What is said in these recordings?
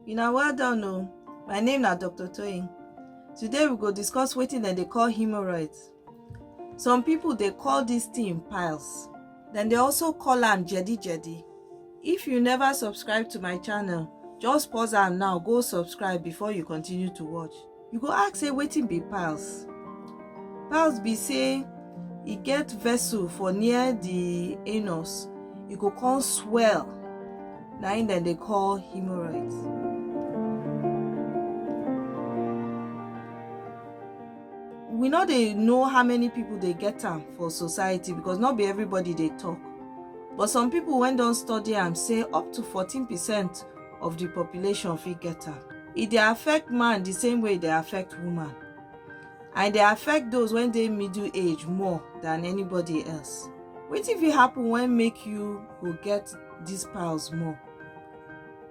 Una well done o. My name na Dr. Toyin. Today we go discuss wetin dem dey call hemorrhoids. Some people dey call this thing piles. Dem dey also call am jedi jedi. If you never subscribe to my channel, just pause am now go subscribe before you continue to watch. You go ask say wetin be piles? Piles be say e get vessel for near the anus, e go come swell. Na im dem dey call hemorrhoids. We no dey know how many people dey get am for society because no be everybody dey talk. But some people wey don study am say up to 14 percent of di population fit get am e dey affect man di same way e dey affect woman and e dey affect those wey dey middle age more than anybody else wetin fit happen wey make you go get dis piles more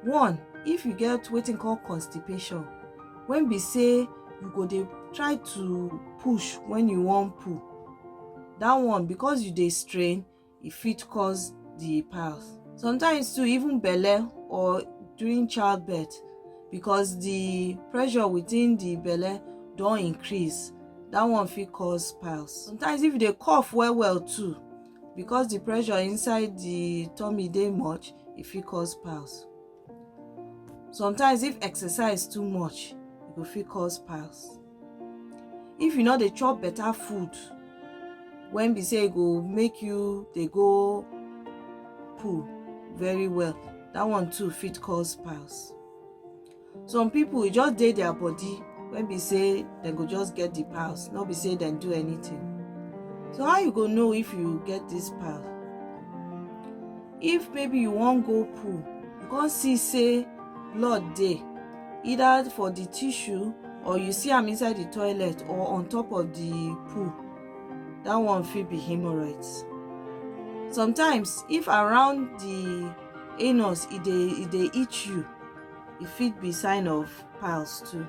one if you get wetin call constipation wey be say you go dey try to push when you wan poo that one because you dey strain e fit cause the path sometimes too even belle or during childbirth because the pressure within the belle don increase that one fit cause piles sometimes if you dey cough well well too because the pressure inside the tummy dey much e fit cause piles Sometimes if exercise too much, e go fit cause pass. If you no dey chop better food when be say e go make you dey go poo very well, that one too fit cause pass. Some people e just dey their body when be say dem go just get the pass, no be say dem do anything. So how you go know if you get this pass? If maybe you wan go poo, you come see say blood dey either for the tissue or you see am inside the toilet or on top of the poo, that one fit be hemorrhoids. Sometimes if around the anus e dey e dey itch you, e fit be sign of piles too.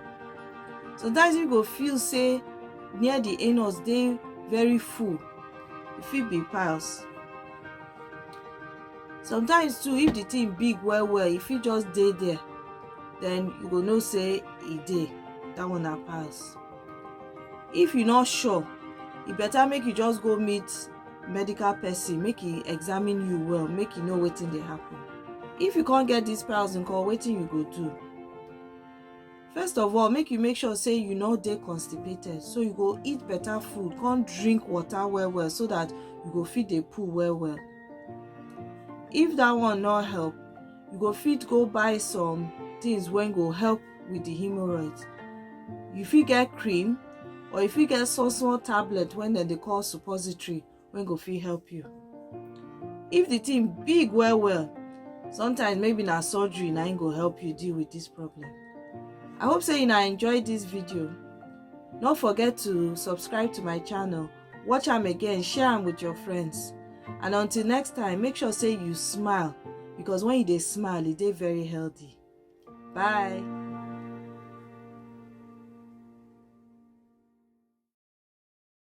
Sometimes you go feel say near the anus dey very full, e fit be piles. sometimes too if the thing big well well if you just dey there then you go know say e dey that one na pass if you not sure e better make you just go meet medical person make e examine you well make you know wetin dey happen if you can't get this piles nko wetin you go do first of all make you make sure say you no dey constipated so you go eat better food come drink water well well so that you go fit dey poo well well if that one no help you go fit go buy some things wey go help with the hemorrhoids you fit get cream or you fit get small small tablet wey dem dey call suppository wey go fit help you if the thing big well well sometimes maybe na surgery na im go help you deal with this problem i hope say una enjoy this video no forget to subscribe to my channel watch am again share am with your friends and until next time make sure say you smile because when you dey smile e dey very healthy bye